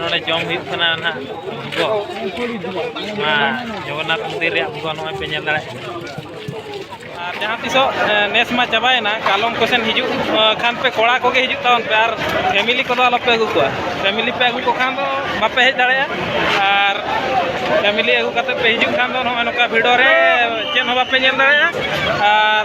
ᱱᱚᱰᱮ ᱡᱚᱢ ᱦᱩᱭᱩᱜ ᱠᱟᱱᱟ ᱱᱟᱜ ᱵᱷᱩᱜᱚ ᱱᱚᱣᱟ ᱡᱚᱜᱚᱱᱱᱟᱛᱷ ᱢᱚᱱᱫᱤᱨ ᱨᱮᱭᱟᱜ ᱵᱷᱩᱜᱚ ᱱᱚᱜᱼᱚᱭ ᱯᱮ ᱧᱮᱞ ᱫᱟᱲᱮᱭᱟᱜ ᱠᱟᱱᱟ ᱟᱨ ᱡᱟᱦᱟᱸ ᱛᱤᱥᱚᱜ ᱱᱮᱥ ᱢᱟ ᱪᱟᱵᱟᱭᱮᱱᱟ ᱠᱟᱞᱚᱢ ᱠᱚᱥᱮᱱ ᱦᱤᱡᱩᱜ ᱠᱷᱟᱱ ᱯᱮ ᱠᱚᱲᱟ ᱠᱚᱜᱮ ᱦᱤᱡᱩᱜ ᱛᱟᱵᱚᱱ ᱯᱮ ᱟᱨ ᱯᱷᱮᱢᱤᱞᱤ ᱠᱚᱫᱚ ᱟᱞᱚᱯᱮ ᱟᱹᱜᱩ ᱠᱚᱣᱟ ᱯᱷᱮᱢᱤᱞᱤ ᱯᱮ ᱟᱹᱜᱩ ᱠᱚ ᱠᱷᱟᱱ ᱫᱚ ᱵᱟᱯᱮ ᱦᱮᱡ ᱫᱟᱲᱮᱭᱟᱜᱼᱟ ᱟᱨ ᱯᱷᱮᱢᱤᱞᱤ ᱟᱹᱜᱩ ᱠᱟᱛᱮ ᱯᱮ ᱦᱤᱡᱩᱜ ᱠᱷᱟᱱ ᱫᱚ ᱱᱚᱜᱼᱚᱭ ᱱᱚᱝᱠᱟ ᱵᱷᱤᱰᱚ ᱨᱮ ᱪᱮᱫ ᱦᱚᱸ ᱵᱟᱯᱮ ᱧᱮᱞ ᱫᱟᱲᱮᱭᱟᱜᱼᱟ ᱟᱨ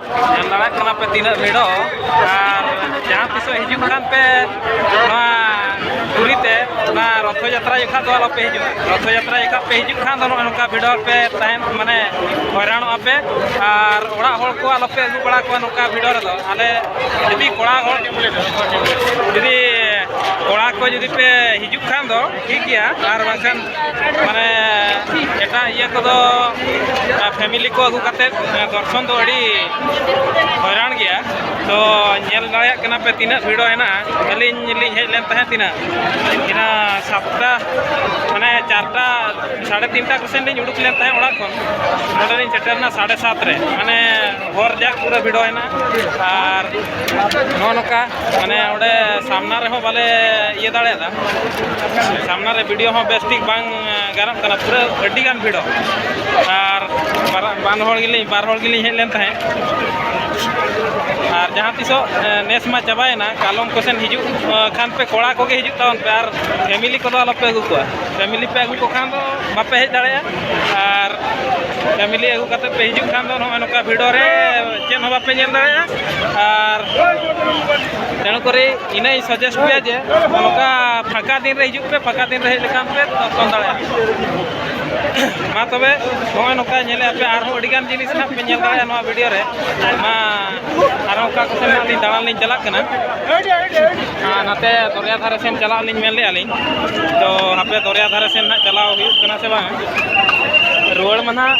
ᱧᱮᱞ ᱫᱟᱲᱮᱭᱟᱜ ᱠᱟᱱᱟ ᱯᱮ ᱛᱤᱱᱟᱹᱜ ᱵᱷᱤᱲᱚ ᱟᱨ ᱡᱟᱦᱟᱸ ᱛᱤᱥᱚᱜ ᱦᱤᱡᱩᱜ ᱠᱟᱱ ᱯᱮ ᱱᱚᱣᱟ ᱯᱩᱨᱤ ᱛᱮ ᱚᱱᱟ ᱨᱚᱛᱷᱚ ᱡᱟᱛᱨᱟ ᱡᱚᱠᱷᱟᱡ ᱫᱚ ᱟᱞᱚᱯᱮ ᱦᱤᱡᱩᱜᱼᱟ ᱨᱚᱛᱷᱚ ᱡᱟᱛᱨᱟ ᱡᱚᱠᱷᱟᱡ ᱯᱮ ᱦᱤᱡᱩᱜ ᱠᱷᱟᱱ ᱫᱚ ᱱᱚᱜᱼᱚ ᱱᱚᱝᱠᱟ ᱵᱷᱤᱲᱚ ᱯᱮ ᱛᱟᱦᱮᱱ ᱢᱟᱱᱮ ᱦᱚᱭᱨᱟᱱᱚᱜᱼᱟ ᱯᱮ ᱟᱨ ᱚᱲᱟᱜ ᱦᱚᱲ ᱠᱚ ᱟᱞᱚᱯᱮ ᱟᱹᱜᱩ ᱵᱟᱲᱟ ᱠᱚᱣᱟ ᱱᱚᱝᱠᱟ ᱵᱷᱤᱲᱚ ᱨᱮᱫᱚ ᱟᱞᱮ ᱡᱩᱫᱤ ᱠᱚᱲᱟ ᱦᱚᱲ ᱡᱩᱫᱤ ᱠᱚᱲᱟ ᱠᱚ ᱡᱩᱫᱤ ᱯᱮ ᱦᱤᱡᱩᱜ ᱠᱷᱟᱱ ᱫᱚ ᱴᱷᱤᱠ ᱜᱮᱭᱟ ᱟᱨ ᱵᱟᱝᱠᱷᱟᱱ ᱢᱟᱱᱮ ᱮᱴᱟᱜ ᱤᱭᱟᱹ ᱠᱚᱫᱚ ᱯᱷᱮᱢᱤᱞᱤ ᱠᱚ ᱟᱹᱜᱩ ᱠᱟᱛᱮᱫ ᱫᱚᱨᱥᱚᱱ ᱫᱚ ᱟᱹᱰᱤ ᱦᱚᱭᱨᱟᱱ ᱜᱮᱭᱟ ᱛᱚ ᱧᱮᱞ ᱫᱟᱲᱮᱭᱟᱜ ᱠᱟᱱᱟ ᱯᱮ ᱛᱤᱱᱟᱹᱜ ᱵᱷᱤᱲᱚ ᱦᱮᱱᱟᱜᱼᱟ ᱟᱹᱞᱤᱧ ᱞᱤᱧ ᱦᱮᱡ ᱞᱮᱱ ᱛᱟᱦᱮᱸᱫ ᱛᱤᱱᱟᱹᱜ ᱤᱱᱟᱹ ᱥᱟᱛᱴᱟ ᱢᱟᱱᱮ ᱪᱟᱨᱴᱟ ᱥᱟᱲᱮ ᱛᱤᱱᱴᱟ ᱠᱚᱥᱮᱱ ᱞᱤᱧ ᱩᱰᱩᱠ ᱞᱮᱱ ᱛᱟᱦᱮᱸᱫ ᱚᱲᱟᱜ ᱠᱷᱚᱱ ᱱᱚᱰᱮ ᱞᱤᱧ ᱥᱮᱴᱮᱨᱱᱟ ᱥᱟᱲᱮ ᱥᱟᱛ ᱨᱮ ᱢᱟᱱᱮ ᱦᱚᱨ ᱡᱟᱠ ᱯᱩᱨᱟᱹ ᱵᱷᱤᱲᱚ ᱦᱮᱱᱟᱜᱼᱟ ᱟᱨ ᱱᱚᱜᱼᱚ ᱱᱚᱝᱠᱟ ᱢᱟᱱᱮ ᱚᱸᱰᱮ ᱥᱟᱢᱱᱟ ᱨᱮᱦᱚᱸ ᱵᱟᱞᱮ ᱤᱭᱟᱹ ᱫᱟᱲᱮᱭᱟᱫᱟ ᱥᱟᱢᱱᱟ ᱨᱮ ᱵᱷᱤᱰᱤᱭᱳ ᱦᱚᱸ ᱵᱮᱥ ᱴᱷᱤᱠ ᱵᱟᱝ ᱜᱟᱱᱚᱜ ᱠᱟᱱᱟ ᱯᱩᱨᱟᱹ ᱟᱹᱰᱤ ᱜᱟᱱ ᱵᱷᱤᱲᱚᱜ ᱟᱨ ᱵᱟᱨ ᱦᱚᱲ ᱜᱮᱞᱤᱧ ᱵᱟᱨ ᱦᱚᱲ ᱜᱮᱞᱤᱧ ᱦᱮᱡ ᱞᱮᱱ ᱛᱟᱦᱮᱸᱫ ᱟᱨ ᱡᱟᱦᱟᱸ ᱛᱤᱥᱚᱜ ᱱᱮᱥ ᱢᱟ ᱪᱟᱵᱟᱭᱮᱱᱟ ᱠᱟᱞᱚᱢ ᱠᱚᱥᱮᱱ ᱦᱤᱡᱩᱜ ᱠᱷᱟᱱ ᱯᱮ ᱠᱚᱲᱟ ᱠᱚᱜᱮ ᱦᱤᱡᱩᱜ ᱛᱟᱵᱚᱱ ᱯᱮ ᱟᱨ ᱯᱷᱮᱢᱤᱞᱤ ᱠᱚᱫᱚ ᱟᱞᱚᱯᱮ ᱟᱹᱜᱩ ᱠᱚᱣᱟ ᱯᱷᱮᱢᱤᱞᱤ ᱯᱮ ᱟᱹᱜᱩ ᱠᱚ ᱠᱷᱟᱱ ᱫᱚ ᱵᱟᱯᱮ ᱦᱮᱡ ᱫᱟᱲᱮᱭᱟᱜᱼᱟ ᱟᱨ ᱯᱷᱮᱢᱤᱞᱤ ᱟᱹᱜᱩ ᱠᱟᱛᱮᱫ ᱯᱮ ᱦᱤᱡᱩᱜ ᱠᱷᱟᱱ ᱫᱚ ᱱᱚᱜᱼᱚᱸᱭ ᱱᱚᱝᱠᱟ ᱵᱷᱤᱲᱚ ᱨᱮ ᱪᱮᱫ ᱦᱚᱸ ᱵᱟᱯᱮ ᱧᱮᱞ ᱫᱟᱲᱮᱭᱟᱜᱼᱟ ᱟᱨ ᱛᱮᱱᱚ ᱠᱚᱨᱮ ᱤᱱᱟᱹ ᱤᱧ ᱥᱟᱡᱮᱥᱴ ᱯᱮᱭᱟ ᱡᱮ ᱱᱚᱝᱠᱟ ᱯᱷᱟᱸᱠᱟ ᱫᱤᱱ ᱨᱮ ᱦᱤᱡᱩᱜ ᱯᱮ ᱯᱷᱟᱸᱠᱟ ᱫᱤᱱ ᱨᱮ ᱦᱮᱡ ᱞᱮᱠᱷᱟᱱ ᱯᱮ ᱫᱚᱨᱥᱚᱱ ᱫᱟᱲᱮᱭᱟᱜᱼᱟ ᱢᱟ ᱛᱚᱵᱮ ᱱᱚᱜᱼᱚᱭ ᱱᱚᱝᱠᱟ ᱧᱮᱞᱮᱫ ᱯᱮ ᱟᱨᱦᱚᱸ ᱟᱹᱰᱤᱜᱟᱱ ᱡᱤᱱᱤᱥ ᱱᱟᱦᱟᱜ ᱯᱮ ᱧᱮᱞ ᱫᱟᱲᱮᱭᱟᱜᱼᱟ ᱱᱚᱣᱟ ᱵᱷᱤᱰᱤᱭᱳ ᱨᱮ ᱢᱟ ᱟᱨᱦᱚᱸ ᱚᱠᱟ ᱠᱚ ᱥᱮᱱ ᱞᱤᱧ ᱫᱟᱬᱟᱱ ᱞᱤᱧ ᱪᱟᱞᱟᱜ ᱠᱟᱱᱟ ᱟᱨ ᱱᱟᱛᱮ ᱫᱚᱨᱭᱟ ᱫᱷᱟᱨᱮ ᱥᱮᱱ ᱪᱟᱞᱟᱜ ᱞᱤᱧ ᱢᱮᱱ ᱞᱮᱫᱼᱟ ᱞᱤᱧ ᱛᱚ ᱦᱟᱯᱮ ᱫᱚᱨᱭᱟ ᱫᱷᱟᱨᱮ ᱥᱮᱱ ᱱᱟᱦᱟᱜ ᱪᱟᱞᱟᱣ ᱦᱩᱭᱩᱜ ᱠᱟᱱᱟ ᱥᱮ ᱵᱟᱝ ᱨᱩᱣᱟᱹᱲ ᱢᱟ ᱱᱟᱦᱟᱜ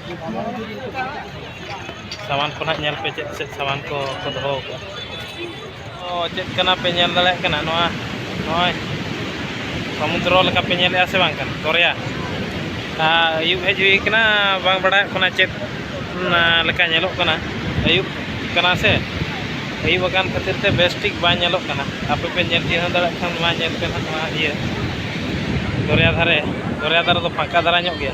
ᱥᱟᱢᱟᱱ ᱠᱚ ᱱᱟᱜ ᱧᱮᱞ ᱯᱮ ᱪᱮᱫ ᱪᱮᱫ ᱥᱟᱢᱟᱱ ᱠᱚ ᱠᱚ ᱫᱚᱦᱚ ᱟᱠᱟᱫᱼᱟ ᱚ ᱪᱮᱫ ᱠᱟᱱᱟ ᱯᱮ ᱧᱮᱞ ᱫᱟᱲᱮᱭᱟᱜ ᱠᱟᱱᱟ ᱱᱚᱣᱟ ᱱᱚᱜᱼᱚᱭ ᱥᱚᱢᱩᱫᱨᱚ ᱞᱮᱠᱟ ᱯᱮ ᱧᱮᱞᱮᱫᱼᱟ ᱥᱮ ᱵᱟᱝ ᱠᱟᱱᱟ ᱫᱚᱨᱭᱟ ᱟᱹᱭᱩᱵ ᱦᱮᱡ ᱦᱩᱭ ᱠᱟᱱᱟ ᱵᱟᱝ ᱵᱟᱲᱟᱭᱚᱜ ᱠᱟᱱᱟ ᱪᱮᱫ ᱞᱮᱠᱟ ᱧᱮᱞᱚᱜ ᱠᱟᱱᱟ ᱟᱹᱭᱩᱵ ᱠᱟᱱᱟ ᱥᱮ ᱟᱹᱭᱩᱵ ᱟᱠᱟᱱ ᱠᱷᱟᱹᱛᱤᱨ ᱛᱮ ᱵᱮᱥ ᱴᱷᱤᱠ ᱵᱟᱝ ᱧᱮᱞᱚᱜ ᱠᱟᱱᱟ ᱟᱯᱮ ᱯᱮ ᱧᱮᱞ ᱪᱤᱱᱦᱟᱹᱣ ᱫᱟᱲᱮᱭᱟᱜ ᱠᱷᱟᱱ ᱢᱟ ᱧᱮᱞ ᱯᱮ ᱱᱟᱜ ᱱᱚᱣᱟ ᱤᱭᱟᱹ ᱫᱚᱨᱭᱟ ᱫᱷᱟᱨᱮ ᱫᱚᱨᱭᱟ ᱫᱷᱟᱨᱮ ᱫᱚ ᱯᱷᱟᱸᱠᱟ ᱫᱷᱟᱨᱟ ᱧᱚᱜ ᱜᱮᱭᱟ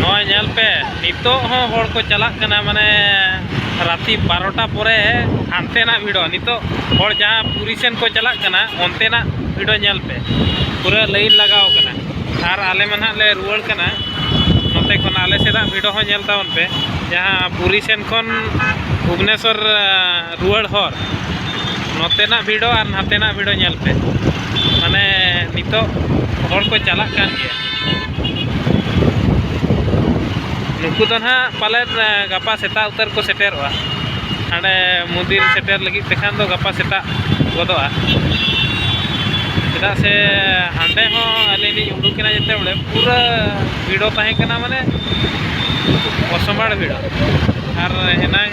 ᱱᱚᱜᱼᱚᱭ ᱧᱮᱞ ᱯᱮ ᱱᱤᱛᱚᱜ ᱦᱚᱸ ᱦᱚᱲ ᱠᱚ ᱪᱟᱞᱟᱜ ᱠᱟᱱᱟ ᱢᱟᱱᱮ ᱨᱟᱛᱤ ᱵᱟᱨᱚᱴᱟ ᱯᱚᱨᱮ ᱦᱟᱱᱛᱮᱱᱟᱜ ᱵᱷᱤᱲᱚ ᱱᱤᱛᱚᱜ ᱦᱚᱲ ᱡᱟᱦᱟᱸ ᱯᱩᱨᱤ ᱥᱮᱱ ᱠᱚ ᱪᱟᱞᱟᱜ ᱠᱟᱱᱟ ᱚᱱᱛᱮᱱᱟᱜ ᱵᱷᱤᱲᱚ ᱧᱮᱞ ᱯᱮ ᱯᱩᱨᱟᱹ ᱞᱟᱹᱭᱤᱱ ᱞᱟᱜᱟᱣ ᱠᱟᱱᱟ ᱟᱨ ᱟᱞᱮ ᱢᱟ ᱱᱟᱦᱟᱜ ᱞᱮ ᱨᱩᱣᱟᱹᱲ ᱠᱟᱱᱟ ᱱᱚᱛᱮ ᱠᱷᱚᱱ ᱟᱞᱮ ᱥᱮᱱᱟᱜ ᱵᱷᱤᱰᱚ ᱦᱚᱸ ᱧᱮᱞ ᱛᱟᱵᱚᱱ ᱯᱮ ᱡᱟᱦᱟᱸ ᱯᱩᱨᱤ ᱥᱮᱱ ᱠᱷᱚᱱ ᱵᱷᱩᱵᱽᱱᱮᱥᱥᱚᱨ ᱨᱩᱣᱟᱹᱲ ᱦᱚᱨ ᱱᱚᱛᱮᱱᱟᱜ ᱵᱷᱤᱲᱚ ᱟᱨ ᱱᱟᱛᱮᱱᱟᱜ ᱵᱷᱤᱲᱚ ᱧᱮᱞ ᱯᱮ ᱢᱟᱱᱮ ᱱᱤᱛᱚᱜ ᱦᱚᱲ ᱠᱚ ᱪᱟᱞᱟᱜ ᱠᱟᱱ ᱜᱮᱭᱟ ᱱᱩᱠᱩ ᱫᱚ ᱱᱟᱦᱟᱜ ᱯᱟᱞᱮᱱ ᱜᱟᱯᱟ ᱥᱮᱛᱟᱜ ᱩᱛᱟᱹᱨ ᱠᱚ ᱥᱮᱴᱮᱨᱚᱜᱼᱟ ᱦᱟᱸᱰᱮ ᱢᱚᱱᱫᱤᱨ ᱥᱮᱴᱮᱨ ᱞᱟᱹᱜᱤᱫ ᱛᱮᱠᱷᱟᱱ ᱫᱚ ᱜᱟᱯᱟ ᱥᱮᱛᱟᱜ ᱜᱚᱫᱚᱜᱼᱟ ᱪᱮᱫᱟᱜ ᱥᱮ ᱦᱟᱸᱰᱮ ᱦᱚᱸ ᱟᱹᱞᱤᱧ ᱞᱤᱧ ᱩᱰᱩᱠ ᱮᱱᱟ ᱡᱮᱛᱮ ᱵᱚᱞᱮ ᱯᱩᱨᱟᱹ ᱵᱷᱤᱲᱚ ᱛᱟᱦᱮᱸ ᱠᱟᱱᱟ ᱢᱟᱱᱮ ᱚᱥᱚᱢᱵᱷᱟᱲ ᱵᱷᱤᱲᱚ ᱟᱨ ᱮᱱᱟᱝ